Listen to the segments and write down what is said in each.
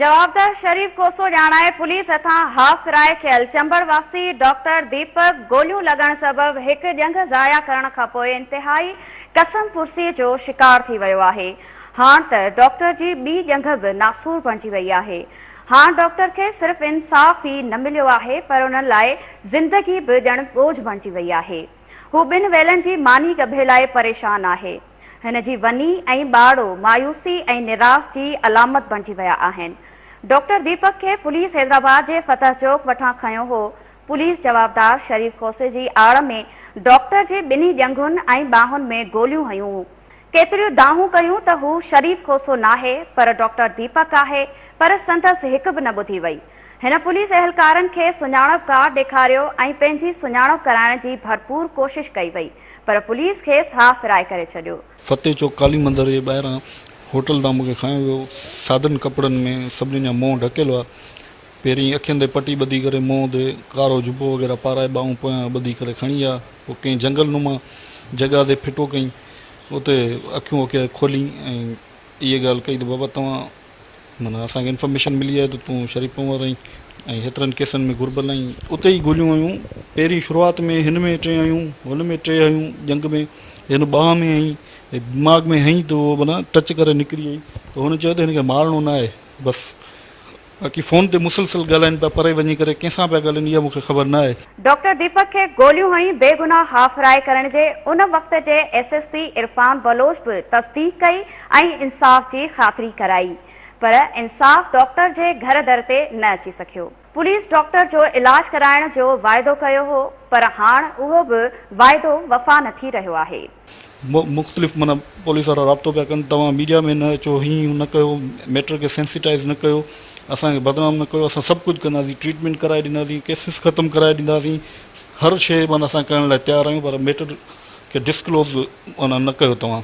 جواب ته شريف کوسو ڄاڻائي پوليس هٿان هاف ڪرائي کيل چمبڙ واسي ڊاڪٽر ديپڪ گوليون لڳڻ سبب هڪ ڄنگهه ضايع ڪرڻ کانپوء انتهائي قسم پرسي جو شڪار ٿي ويو آهي هاڻ ته ڊاڪٽر جي ٻي ڄنگهه به ناسور بڻجي وئي آهي هاڻ ڊاڪٽر کي صرف انصاف ئي نه مليو آهي پر انهن لاء زندگي به ڄڻ ٻوجهه بڻجي وئي آهي. هو ٻن ويلن جي ماني ڳڀي لاء پريشان آهي. هن جي وني ۽ ٻاڙو مايوسي ۽ نراس جي علامت بڻجي ويا آهن. ڊاڪٽر ديپڪ کي پوليس حيدرآباد جي فتح چوڪ وٺان کنيو هو. پوليس جوابدار شريف کوسي جي آڙ ۾ ڊاڪٽر جي ٻنهي ڄنگهن ۽ ٻانهن ۾ گوليون هنيون. ڪيتريون دانهون ڪيون ته هو شريف کوسو ناهي پر ڊاڪٽر ديپڪ آهي پر سندس هڪ به نه ٻڌي وئي. هن پوليس اهلڪارن کي سڃاڻپ ڪارڊ ڏيکاريو ۽ پنهنجي سڃاڻپ ڪرائڻ جي ڀرپور ڪوشش ڪئي وئي پر پوليس کيس هاء فرائي ڪري ڇڏيو. فتح چوڪ ڪالي مندر جي ٻاهران هوٽل تان مون کي کڻيو ويو. سادن ڪپڙن ۾ سڀني جا منهن ڍڪيل هئا. پهرين اکين تي پٽي ٻڌي ڪري منهن تي ڪارو جبو وغيره پارائي ٻانهون پويان ٻڌي ڪري کڻي آ پوء ڪنهن جهنگل نما جڳهه تي ڦٽو ڪيئين اتي اکيون اکيا کولين ۽ اهي ڳالهه ڪئي ته بابا توهان معنيٰ اسان کي انفارميشن ملي آهي ته تون شريف پنهور آهين ۽ هيترن ڪيسن ۾ گهربل آهين. اتي ئي گوليون هيون پهرين شروعات ۾ هن ۾ ٽي هيون هن ۾ ٽي هيون ڄنگ ۾ هن ٻانهن ۾ هنئي دماغ ۾ هنئي ته اهو معنيٰ ٽچ ڪري نڪري وئي ته هن چيو ته هن کي مارڻو ناهي بس باقي فون تي مسلسل ڳالهائين پيا پري وڃي ڪري ڪنهن سان پيا ڳالهائين اها مون کي خبر نه آهي. ڊاڪٽر ديپڪ کي گوليون هنئي بيگناهه هاڦراهي ڪرڻ جي ان وقت جي S S P Irfan Baloch به تصديق ڪئي ۽ انصاف جي خاطري ڪرائي پر انصاف ڊاڪٽر جي گهر در تي نه اچي سگهيو. پوليس ڊاڪٽر جو علاج ڪرائڻ جو واعدو ڪيو هو پر هاڻ اهو به واعدو وفا نه ٿي رهيو آهي. مختلف معنيٰ پوليس وارا رابطو پيا ڪن توهان ميڊيا ۾ نه اچو هي هون نه ڪيو ميٽر کي سينسيٽائز نه ڪيو اسان کي بدنام نه ڪيو اسان سڀ ڪجهه ڪنداسين ٽريٽمينٽ ڪرائي ڏينداسين ڪيسز ختم ڪرائي ڏينداسين هر شي معنيٰ اسان ڪرڻ لاء تيار آهيون پر ميٽر کي ڊسڪلوز معنيٰ نه ڪيو توهان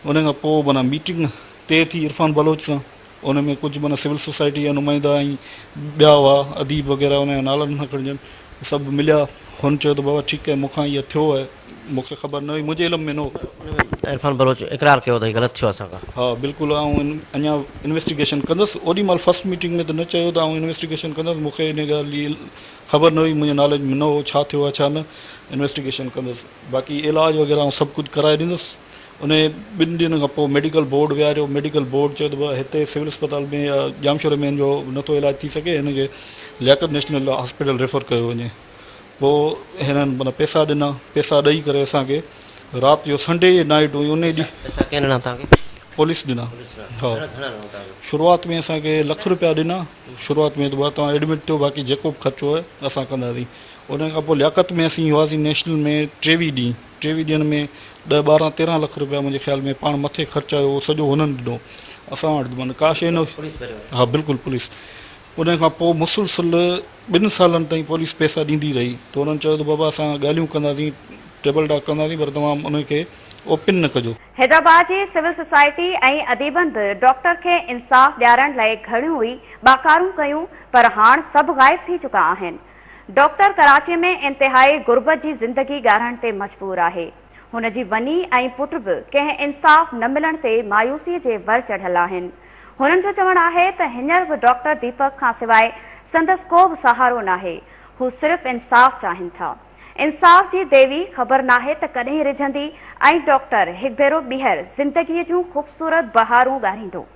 ان کان پوء معنيٰ ميٽنگ طئي ٿي عرفان بلوچ سان ان ۾ ڪجهه معنيٰ سول سوسائٽي جا نمائندا ۽ ٻيا هئا، اديب وغيره، انهن جا نالا نٿا کڻجن، سڀ مليا. هن چيو ته بابا ٺيڪ آهي، مون کان اها ٿيو آهي، مون کي خبر نه هئي، منهنجي علم ۾ نه هو. پر عرفان بلوچ اقرار ڪيو ته هي غلط ٿيو اسان کان. ها بلڪل، آئون اڃا انويسٽيگيشن ڪندس. اوڏي مهل فرسٽ ميٽنگ ۾ ته نه چيو ته آئون انويسٽيگيشن ڪندس، مون کي ان ڳالهه جي خبر نه هئي، منهنجي ناليج ۾ نه هو، ڇا ٿيو آهي ڇا نه، انويسٽيگيشن ڪندس، باقي علاج وغيره آئون سڀ ڪجهه ڪرائي ڏيندس. انهيء ٻن ڏينهن کان پوء ميڊيڪل بورڊ ويهاريو. ميڊيڪل بورڊ چيو ته بابا هتي سول اسپتال ۾ يا ڄامشوري ۾ هن جو نٿو علاج ٿي سگهي، هن کي لياقت نيشنل هاسپيٽل ريفر ڪيو وڃي. پوء هنن معنيٰ پئسا ڏنا. پئسا ڏئي ڪري اسان کي رات جو سنڊي جي نائيٽ هئي انهيء ڏينهن. پئسا ڪنهن ڏنا توهان کي؟ پوليس ڏنا. ها. شروعات ۾ اسان کي لک رپيا ڏنا. شروعات ۾ ته بابا توهان ايڊمٽ ٿيو باقي جيڪو به خرچو آهي اسان ڪنداسين. انهيء کان پوء لياقت ۾ اسين هئاسين نيشنل ۾ ٽيويهه ڏينهن. ٽيوي ڏيڻ ۾ ڏهه ٻارهن تيرهن لک روپيا منهنجي خيال ۾ پاڻ مٿي خرچ آيو اهو سڄو هنن ڏنو اسان وٽ من ڪا شي نه ها بلڪل پوليس ان کان پوء مسلسل ٻن سالن تائين پوليس پيسا ڏيندي رهي ته هنن چيو ته بابا اسان ڳالهيون ڪنداسين ٽيبل ٽاڪ ڪنداسين پر توهان ان کي اوپن نه ڪجو. حيدرآباد جي سول سوسائٽي ۽ اديبن به ڊاڪٽر کي انصاف ڏيارڻ لئه گهڻيون ئي ٻاڪارون ڪيون پر هاڻ سڀ غائب ٿي چڪا آهن ڊاڪٽر ڪراچي ۾ انتهائي غربت جي زندگي ڳارهڻ تي مجبور آهي. هن جي وني ۽ پٽ به ڪنهن انصاف نه ملڻ تي مايوسي جي ور چڙهيل آهن. هنن جو چوڻ آهي ته هينئر به ڊاڪٽر ديپڪ کان سواء سندس ڪو به سهارو ناهي. هو صرف انصاف چاهين ٿا. انصاف جي ديوي خبر ناهي ته ڪڏهن رجهندي ۽ ڊاڪٽر هڪ ڀيرو ٻيهر زندگي جون خوبصورت بهارون ڳاريندو.